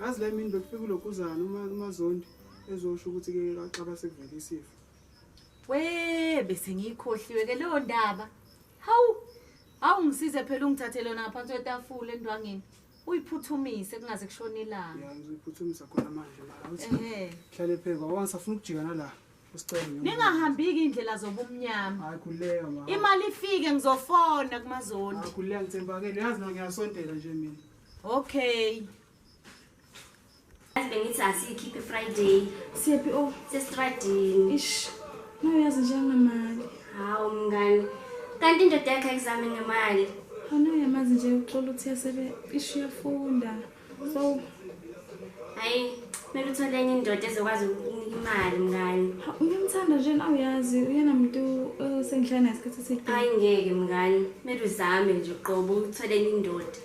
yazi la imini bekufika ulokhuzana umazondi ezosho ukuthi ke kaxaba sekuvele isifo we bese ngiyikhohliwe ke leyo ndaba hawu hawu ngisize phela ungithathe lona ngaphansi kwetafula endwangeni uyiphuthumise kungaze kushone ilanga ya ngiyiphuthumisa khona manje mara uthi hlale pheka wangisafuna ukujika nala ningahambiki indlela zobumnyama imali ifike ngizofona kumazondi okay bengithi asiyikhiphe friday siyephi o oh. sesitradini ish nayo yazi nje anginamali hawu mngani kanti indoda yakhe ayizami ngemali anayo yamazi nje uxola ukuthi yasebe ish uyafunda so hayi kumele uthole enye indoda ezokwazi ukunika imali mngani uyamthanda nje nawe uyazi uyena muntu osengihlala naye isikhathi eside hayi ngeke mngani kumele uzame nje qobo uthole enye indoda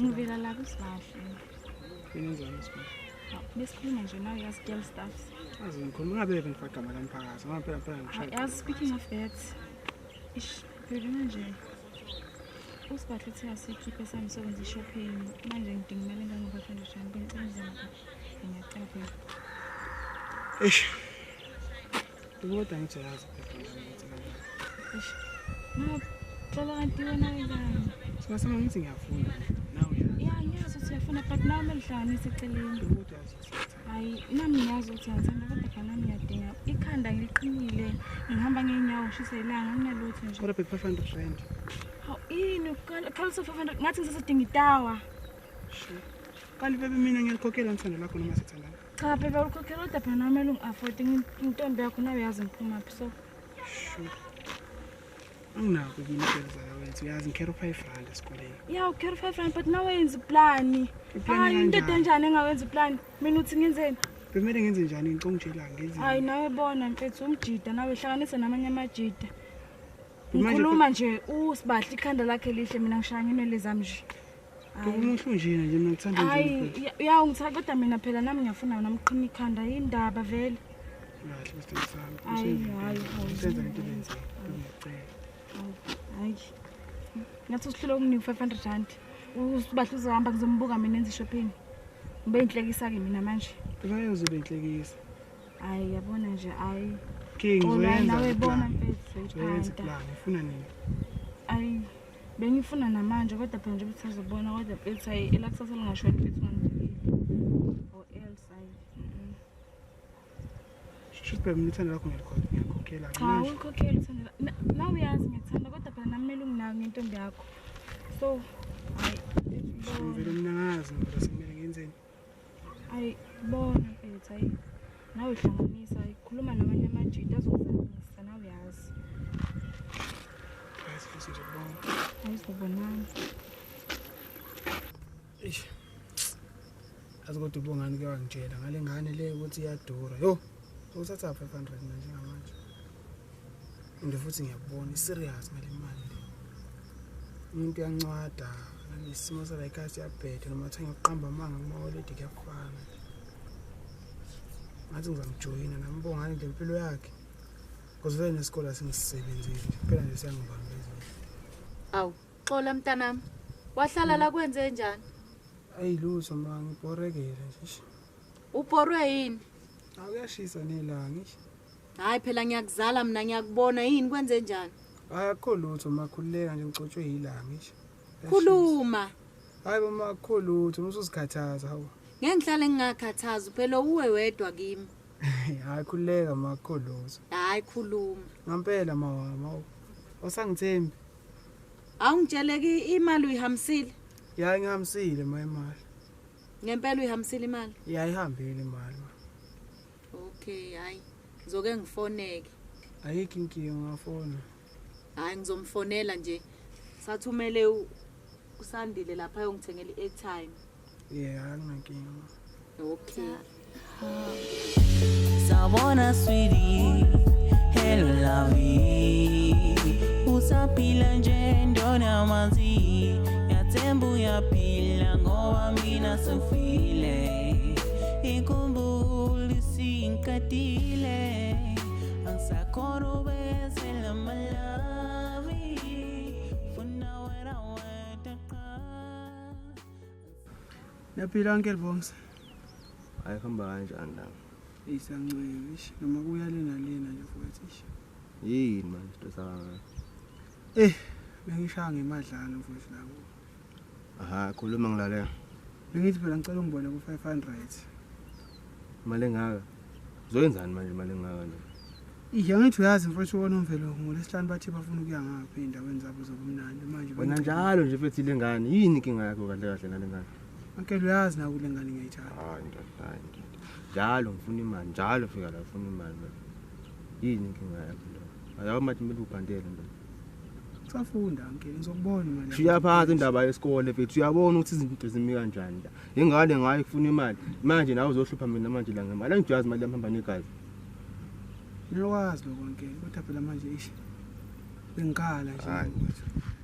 Ngivela la kusibahle. Inenzani isibahle? Besikhuluma nje nawe yazi girl staffs. Azi ngikhuluma ngabe ngifaka igama lomphakathi ngoba phela phela ngishaya. Yazi speaking of that. Ish, phela manje usibahle uthe asikhiphe sami sokwenza ishopping manje ngidinga imali engangoba-five hundred rand bengicela izama ngiyacela babe eish kodwa ngithi yazi eish nacela kanti wena kangani singasema ngithi ngiyafunda nawe ya ngiyazi ukuthi uyafunda but nawe umele uhlanganise eceleni kodwa yazi Hayi nami ngiyazi ukuthi ngithanda kodwa khona nami ngiyadinga ikhanda ngiliqinile ngihamba ngeenyawo ngishise ilanga nginalutho nje. Kodwa bheki 500 rand. Hawu yini uqala qala 500 ngathi ngisasadinga itawa. Sure. Kanti bebe mina ngiyalikhokhela ngithanda lakho noma sithandana. Cha bebe ulikhokhela kodwa phela nami elungi afford intombi yakho nawe yazi ngiphuma phi so. Sure. anginako yini isenzayo wenza uyazi ngikhera u-five rand esikoleni ya ukhera u-five rand but nawe yenza iplani hayi into edenjani engawenza iplani mina uthi ngenzeni bemele ngenze njani ngicong njela ngenzi hayi nawe bona mfethu umjida nawe hlanganise namanye amajida ngikhuluma nje usibahle ikhanda lakhe lihle mina ngishaya nginwele zami nje Umuntu nje nje ngithanda nje. Hayi, ya ungithatha kodwa mina phela nami ngiyafuna wena mqhina ikhanda yindaba vele. Kahle bese ngisami. Hayi, hayi. Senza into lenze. Ngicela. Hayi. Ngathi usihlule ukunike 500 rand. Usibahle uzohamba ngizombuka mina enze shopping. Ngibe inhlekisa ke mina manje. Ubayozobe inhlekisa. Hayi, yabona nje hayi. King, uzoyenza. Nawe bona mfethu. Uzoyenza plan. Ufuna nini? Hayi. Bengifuna namanje kodwa phela njengoba sisazobona kodwa bethi hayi elakusasa lingashoni bethi ngangibikile or else hayi mm-mm. Shushu bhemu ithanda lakho ngiyalikhokhe- ngiyakhokhela. cha Manje, uyikhokhela uthando la- na- nawe uyazi ngiyakthanda kodwa phela nami kumele unginaki ngentombi yakho so hayi Shushu, ngivele mina ngazi ngivele sekumele ngenzeni. ayi bona mfethu ayi nawe hlanganisa ayi khuluma namanye amajita azokuzamisa nawe yazi ayizobonani eish azi kodwa ubongani ke wangitshela ngale ngane le ukuthi iyadura yho sowuthatha 500 manje ngamanje and futhi ngiyakubona serious ngale mali le umuntu uyancwada nesimo sala ikhaya siyabheda noma kuthiwa ngiyoqamba amanga kumawoledi kuyafana ngathi ngizamjoyina nambongani nje impilo yakhe because vele nesikole asingisebenzile kuphela nje siyangibambezile awu xola mntanami wahlala la kwenze njani ayi lutho ma ngibhorekele nje ubhorwe yini akuyashisa nelanga Hayi phela ngiyakuzala mina ngiyakubona yini kwenze njani? Akho lutho makhululeka nje ngicotshwe yilanga ngisho. Khuluma. Hayi mama akho lutho musuzikhathaza hawu. Ngeke ngihlale ngingakhathazi phela uwe wedwa kimi. Hayi khululeka makho lutho. Hayi khuluma. Ngampela mawama hawu. Osangithembi. Awungitsheleki imali uyihambisile? Ya ngihambisile ma imali. Ngempela uyihambisile imali? Ya ihambile imali. okay hayi ngizoke ngifoneke ayikho inkinga ungafona hayi ngizomfonela nje sathumele u- usandile lapha ayongithengela i-airtime yeah anginankinga okay Sabona sweetie, hello lovey Usaphila nje ndona mazi Yathemba uyaphila ngoba mina sifile inkumbulo isiqedile angisakhona ubekezela malawi funa wena wedwa qha Yaphila uncle Bongs. Hayi kuhamba kanjani la? Isancwele ish noma kuya lena lena nje futhi ish. Yini manje stressa kangaka? Eh bengishaya ngemadlalo futhi la. Aha, khuluma ngilalela. Bengithi phela ngicela ungibone ku 500. Imali engaka? Uzoyenzani manje imali engaka nje? Ihe ngithi uyazi mfowethu wona umvelo ngolesihlanu bathi bafuna ukuya ngaphi endaweni zabo zobumnandi manje Wena njalo nje mfethu ile ngane, yini inkinga yakho kahle kahle nale ngane? Ankele uyazi naku le ngane ngiyayithanda. Hayi ndoda, hayi ndoda. Njalo ngifuna imali, njalo fika la ufuna imali. Yini inkinga yakho ndoda? Ayawu mathi mele ubhandele ndoda. Safunda ngeke ngizokubona manje. Shiya phansi indaba yesikole mfethu. Uyabona ukuthi izinto zimi kanjani la. Ingane ngayo ifuna imali. Manje nawe uzohlupha mina manje la ngemali. Angijazi imali yami hamba negazi. Ngiyakwazi lokho ngeke kodwa phela manje ish. Bengikhala nje.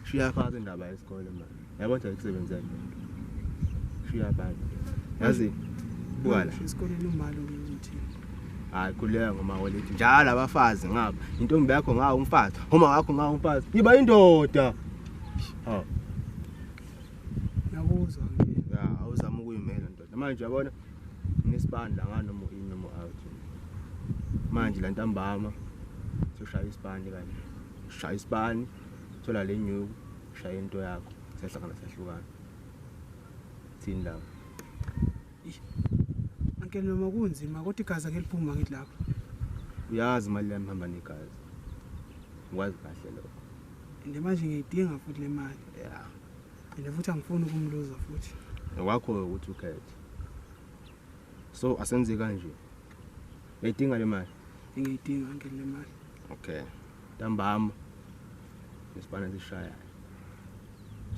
Shiya phansi indaba yesikole manje. yabo kodwa ikusebenzela lento shiya abantu yazi buwala isikoleni umali ukuthi hayi khuleka ngoma walethi njalo abafazi ngaba intombi yakho ngawo umfazi uma wakho ngawo umfazi yiba indoda ha nakuzwa ya awuzama ukuyimela ndoda manje yabona ngesibani la ngano mo in noma out manje la ntambama soshaya isibani kanje shaya isibani thola lenyuku shaya into yakho sehlangana sehlukana thini lapho Uncle noma kunzima kodwa igazi akeliphuma ngithi lapho uyazi imali yami hamba negazi ngikwazi kahle lokho and manje ngiyidinga futhi le mali yeah and futhi angifuni ukumluza futhi ngokwakho ukuthi ukhethe so asenze kanje uyayidinga le mali ngiyidinga ngeke le mali okay ntambama nesibana sishaya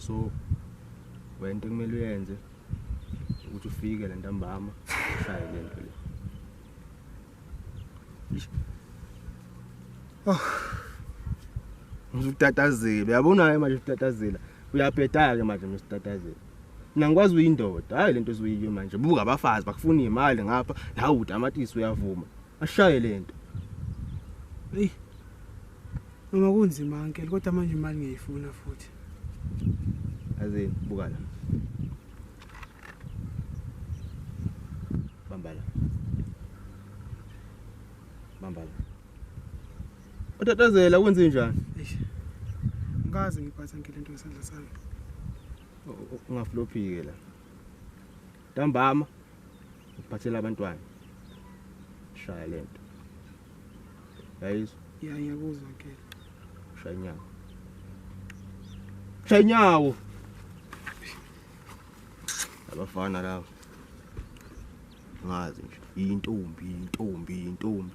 so wento kumele uyenze ukuthi ufike le ntambama ushaye le nto le Oh. Ngizutatazile. Uyabona ke manje utatazila. Uyabhedaka ke manje msitatazila. mina ngikwazi uyindoda hayi lento ezoyiyo manje buka abafazi bakufuna imali ngapha nawe utamatisi uyavuma ashaye lento hey noma kunzima uncle kodwa manje imali ngiyifuna futhi azini buka la bambala bambala Utatazela wenze njani? Ngikaze ngiphatha ngile nto ngesandla sami. Ungaflophike la. Ntambama uphathela abantwana. Shaya lento. Yayizwa? Ya ngiyakuzwa ke. Shaya inyawo. Shaya inyawo. Abafana laba. Ngazi nje intombi intombi intombi.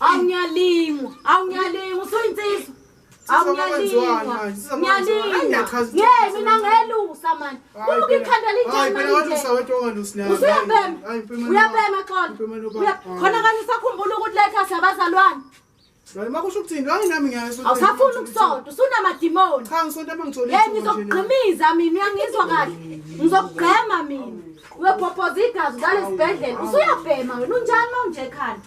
awungiyalingwa awungiyalingwa usuyinsizwa awungiyalingwa ye mina ngelusa mani uluka ikhanda linjeniusuyabhema uyabhema xona khona kanye usakhumbula ukuthi lekhasi abazalwane makusho ukuthini hayi nami ngiyawusafuni ukusonta usunamadimoni cha ngisonta uma ngitholile ngizokugqimiza mina uyangizwa kahle ngizokugqema mina uyophophoza igazi ngale sibhedlela usuyabhema wena unjani uma unje ekhanda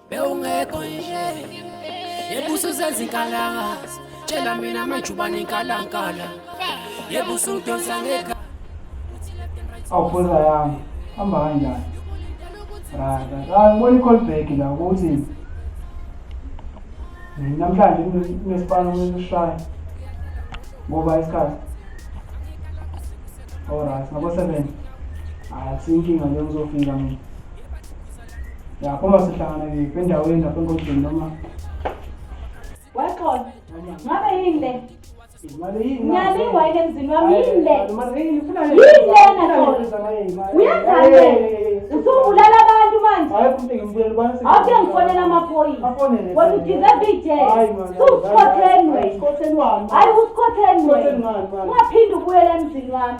bewungekho nje yebususezinkalakazi tshela mina majubane inkalankala yebusudonsa ngeka awufuza yami hamba kanjani rada angibona i-call back la ukuthi namhlanje kunesipani okumele usishaye ngoba isikhathi olright ngabo seven hayi akusinkinga nje ngizofika mina ya uma sihlangana ke endaweni lapha enkonjeni noma waxola ngabe yini le ngiyabingwa yini emzini wami yini le yini lena xola uyenzani usubulala abantu manje awuke ngifonela amaphoyisa wena udizevu ijele susikhotheni wena hayi usikhotheni wena ungaphinde ubuyele emzini wami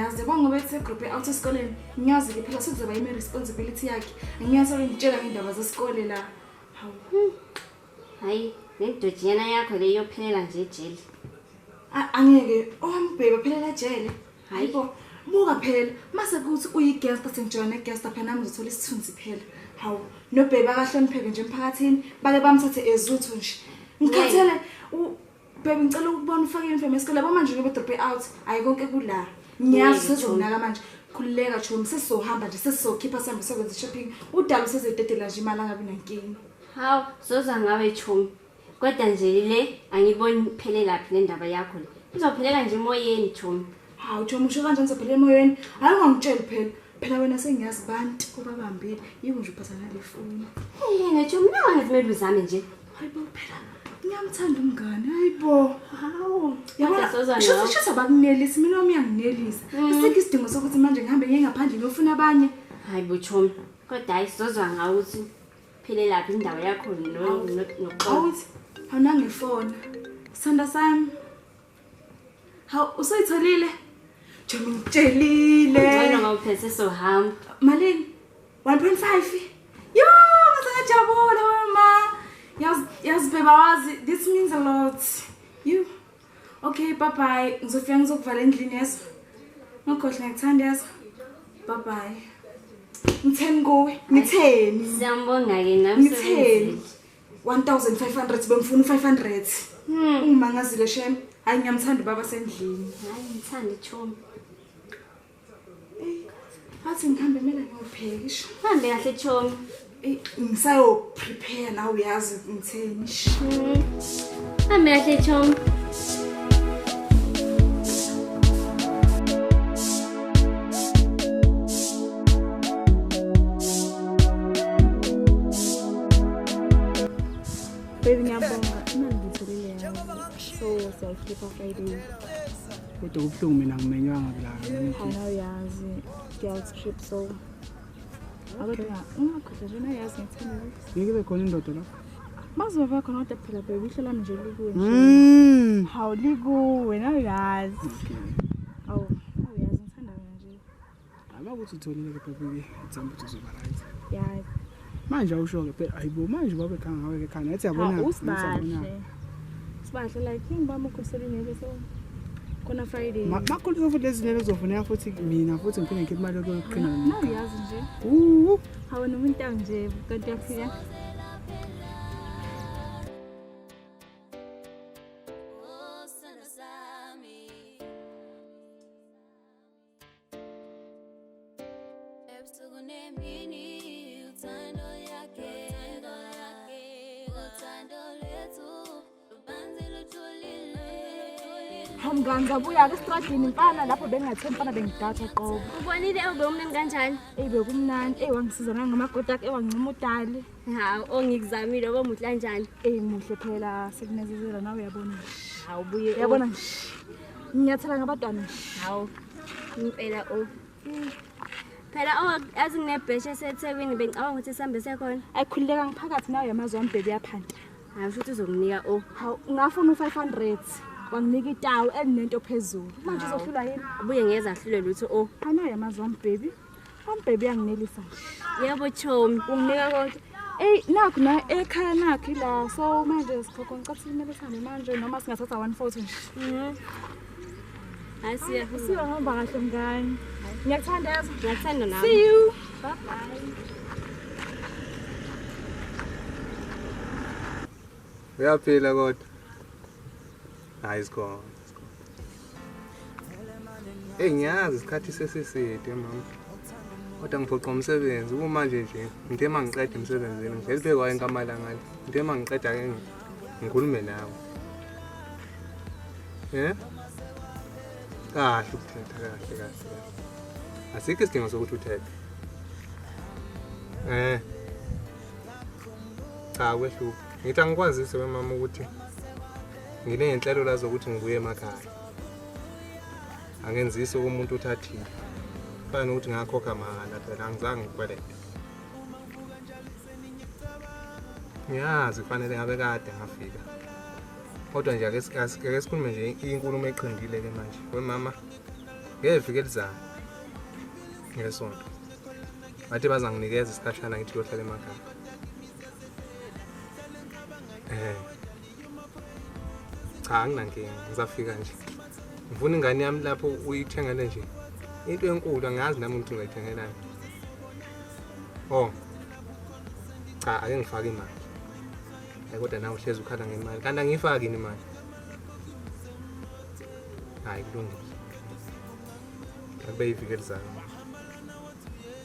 ngiyazi kwangoba ethi-group e-out esikoleni ngiyazi-ke phela sekuzoba yimi-responsibility yakhe ngiyazi olengitshela ngey'ndaba zesikole la hawu hayi lendojinyana yakho le iyophelela nje ejele A- angeke owambheki ophelela ejele hayi bo buka phela mase kuthi uyigesta sengijoyina egesta phela nami ngizothola isithunzi phela hawu nobheki akahlonipheke nje emphakathini bake bamthathe ezuthu nje ngikhathele u- Babe ngicela ukubona ufake uniform yesikole yabo manje ngibe drop out hayi konke kula. Ngiyazi sezokunaka manje. Khululeka chomi sesizohamba nje sesizokhipha sihambe sokwenza shopping. Udala usezededela nje imali angabi nankinga. Hawu zoza ngawe chomi. Kodwa nje le angiboni phelelaphi le ndaba yakho le. Izophelela nje emoyeni chomi. hawu joma usho kanjani sabhele emoyeni hayi ungangitsheli phela phela wena sengiyazi bantu obabambile yiwo nje uphatha nale foni yena joma nangane kumele uzame nje hayi bo phela ngiyamthanda umngane hayi bo hawu yabonashisa bakunelisa mina wami uyanginelisa mm. isikho isidingo sokuthi manje ngihambe ngiye ngaphandle ngiyofuna abanye hayi bo joma kodwa hayi sizozwa ngawo ukuthi phelelaphi indawo yakho nokuxawuthi awunangefona sanda sami Hawu usayitholile? Njengoba ngitshelile. Ngcono ngawuphethe sohamba. Malini? 1.5. Yo, ngisajabula wema. Yaz yaz beba wazi this means a lot. You. Okay, bye bye. Ngizofika ngizokuvala endlini yeso. Ngokhohle ngikuthanda yeso. Bye bye. Ngitheni kuwe? Ngitheni? Siyambonga ke nami. Ngitheni? 1500 bengifuna u500 hmm. ungimangazile shem hayi ngiyamthanda ubaba sendlini hayi ngithanda ichomi athi ngihambe mina ngiyopheka isho hambe kahle chomi ngisayoprepare nawe uyazi ngitheni hmm. Hambe kahle Chom. Baby ngiyabonga imali ngitholile yayo. So siyayikhipha Friday. Kodwa kubuhlungu mina ngimenywanga kulaka. Hayi awuyazi girls trip so Kodwa ungakhutha nje nayazi ngithanda ukuthi. Ngeke be khona indoda lapho. Bazoba bakhona kodwa phela bheka ihlo lami nje likuwe. Mm. Hawu likuwe nawe yazi. Awu, awu yazi ngithanda wena nje. Aba ukuthi utholile ke bheka uye uthemba ukuthi uzoba right. Yazi. Manje awusho ke phela ayibo manje babe khanga ngawe ke khana ethi yabona. Hawu usibashe. Sibahle like king bami ukhosela inebe so khona Friday. Makhulu so futhi lezinebe zofuneka futhi mina futhi ngiphinde ngikhiphe imali yokuqina. Na uyazi nje. Uwu. Hawu nomuntu nje kanti uyafika. mnganga buya ke estradini mfana lapho bengingathe mfana bengidatha qobo ubonile ube umnandi kanjani eyi bekumnandi eyi wangisiza nangamagoda akhe ewangincima udali hawu ongikuzamile oba muhle kanjani eyi muhle phela sekunezezela nawe uyabona hawu buye yabona nje nginyathela ngabantwana hawu impela o oh. phela azi nginebhesha esethekwini bengicabanga ukuthi sihambe sekhona ayikhululeka ngiphakathi nawe yamazi wami bhebe yaphanda hayi usho ukuthi uzokunika o oh. hawu ngafuna u-five hundred wanginika itawu elinento phezulu manje uzohlulwa yini ubuye ngeza ahlule lutho o oh. anayo yamazi wami bhebi Mom baby uyanginelisa. Yebo chomi. Unginika konke. Ey nakho na ekhaya nakho ila so manje sikhokho ngicela simele sihambe manje noma singathatha one photo nje. Mhm. Hayi siya. Siya hamba kahle mngane. Ngiyakuthanda yazi. Ngiyakuthanda nami. See you. Bye bye. Uyaphila kodwa. hayi sikhona eyi ngiyazi isikhathi sesiside mama kodwa ngiphoqa umsebenzi kumanje nje ngithe uma ngiqeda emsebenzini ngivele bhekwa enkamalangale ngithe uma ngiqeda ke ngikhulume nawe um kahle ukuthetha kahle kahle asikho isidingo sokuthi uthethe um cha kwehlupha ngithi angikwazise wemama ukuthi nginey'nhlelo la zokuthi ngibuye emakhaya angenzisi kumuntu uthathile fana nokuthi ngakhokha mahhala phela angizange ngikwelete ngiyazi kufanele ngabe kade ngafika kodwa nje ake sikhulume nje inkulumo eqindile ke manje wemama ngeviki elizayo ngesonto bathi bazanginikeza isikhashana ngithi kuyohlala emakhaya um cha anginankinga ngizafika nje ngifuna ingane yami lapho uyithengele nje into enkulu angazi nami ukuthi ngayithengelani oh cha ake ngifake imali hayi kodwa nawe uhlezi ukhala ngemali kanti angiyifaki yini imali hayi kulungile akube yivikeli zami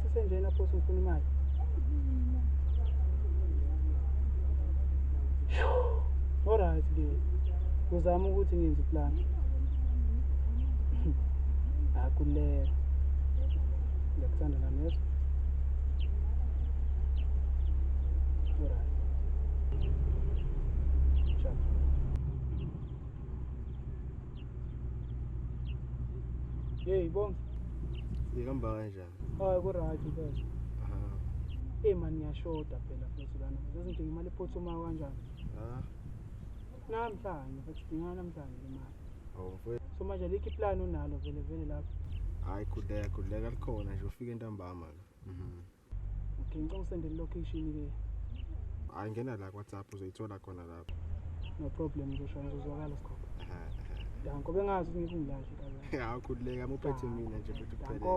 Sisenjena phosa ngifuna imali. Alright ke. Uzama ukuthi ngenze plan. Akulela. Ngiyakuthanda nami yes. Alright. Hey, bom. Diga mais. Hayi ku right mfethu. Ah. Eh man ngiyashoda phela futhi lana. Sesindinga imali ephuthumayo kanjani? Ah. Namhlanje futhi sidinga namhlanje imali. Oh mfethu. So manje likhi plan onalo vele vele lapho? Hayi khudleka khudleka likhona nje ufike ntambama la. Mhm. Okay ngicela usende location ke. Hayi ngena la ku WhatsApp uzoyithola khona la. no problem nje shona uzozwakala sikhona danko bengazi ukuthi ngikungilahle kaza hawu khululeka muphethe mina nje futhi uphelele danko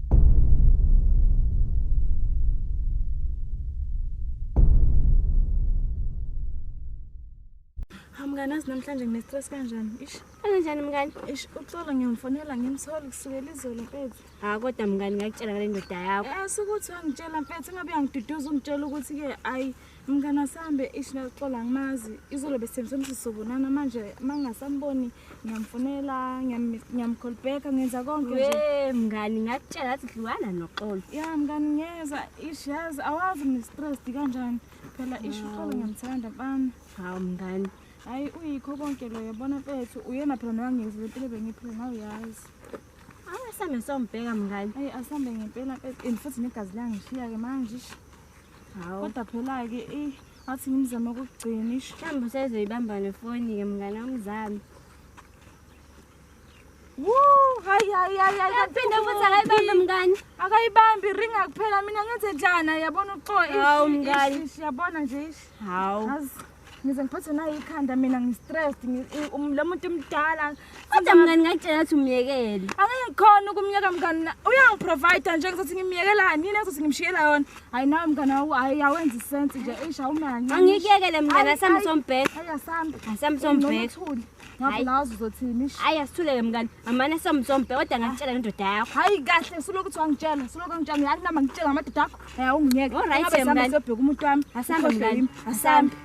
mngani azi namhlanje ngine-stress kanjani ish kanjani mngani ish uxolo ngiyomfonela ngimthole kusukela izolo mfethu hayi kodwa mngani ngakutshela ngale ndoda yakho um sukuthi wangitshela mfethu ingabe uyangiduduza ungitshela ukuthi-ke ayi mngane wasambe ish naxola ngimazi izolo besithembise ukuthi sizobonana manje uma ngingasamboni ngiyamfonela ngiyamcallbacka ngenza konke nje mngani ngakutshela athi dliwana noxolo ya mngani ngiyeza ish yazi awazi ngistressed kanjani phela ish uxolo ngiyamthanda mfana hawu mngani hhayi uyikho konke lo yabona mfethu uyena phela nowangiyeza le mpilo bengiphile nawe yazi asambe sombheka mngani eyi asambe ngempela mfethu and futhi negazi langishiya-ke manje ish Hawu. Kodwa phela ke eh athi ngimzama ukugcina isho. Mhlawumbe usezoyibamba nefoni ke mngane wamzami. Woo, hayi hayi hayi hayi. Yaphinde futhi akayibambe mngane. Akayibambi ringa kuphela mina ngenze njani yabona uxo. Hawu mngane. Yabona nje ish. Hawu. ngize ngiphathwe nayikhanda mina ngi-stressed ngi- i- um- lo muntu mdala kodwa mngani ngakutshela ukuthi umyekele angeke ngikhona ukumyeka mngani na- uyangiprovida nje ngizothi ngimyekelani yini engizothi ngimshiyela yona hhayi nawe mngani awu- hhayi awenza isensi nje eish awume kancane angikuyekele mngani Ayi, asambe ayi. sombheda Hhayi, asambe asambe Ungcono sombheda uthule. Hayi. ngazi uzothini ish. hayi asithulele mngani amane somzombe kodwa ngakutshela ngendoda yakho hayi kahle suloku kuthiwa ngitshela suloku ngitshela ngiyathi nama ngitshela ngamadoda akho hayi awungiyeke Alright, Ingabe sihamba mngani. siyobheka umuntu wami Asambe, Ukhohlwe mngani. yimi. asambe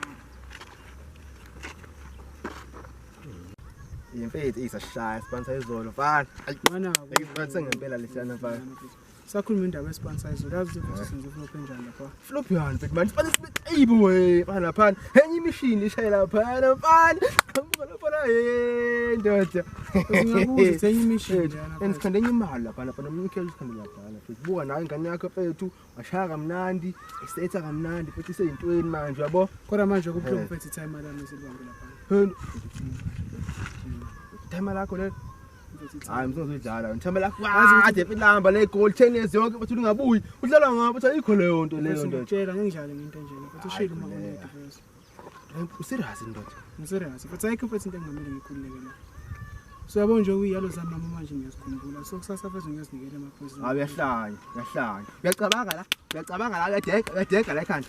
Imfethu isashaya sibonisa izolo mfana. Ayi, Mfana, ngibonise ngempela lesiyana mfana. sakhuluma indaba yesponsize uyazi ukuthi senze flop enjani lapha flop yani mfethu manje fanele sibe ayibo we bana lapha enye imishini ishayela lapha lapha ngibuka lapha la hey ndoda ngiyabuza ukuthi enye imishini yana and sikhanda enye imali lapha lapha nomnikelo sikhanda lapha lapha buka nawe ingane yakho mfethu washaya kamnandi isetha kamnandi futhi iseyintweni manje yabo kodwa manje kubuhlungu mfethu time lami silibambe lapha time lakho lelo hayi msonge udlala ngithembela kwade ilamba le goal 10 years yonke bathi ungabuyi udlala ngabo bathi ayikho leyo nto leyo nto ngitshela ngidlale ngento nje ukuthi ushilo uma une defense userious ndoda userious but ayikho futhi into engamele ngikhululeke la so yabo nje uyalo zami mama manje ngiyazikhumbula so kusasa futhi ngiyazinikela amaphoyisa awu yahlanya yahlanya uyacabanga la uyacabanga la uyadega uyadega la ekhanda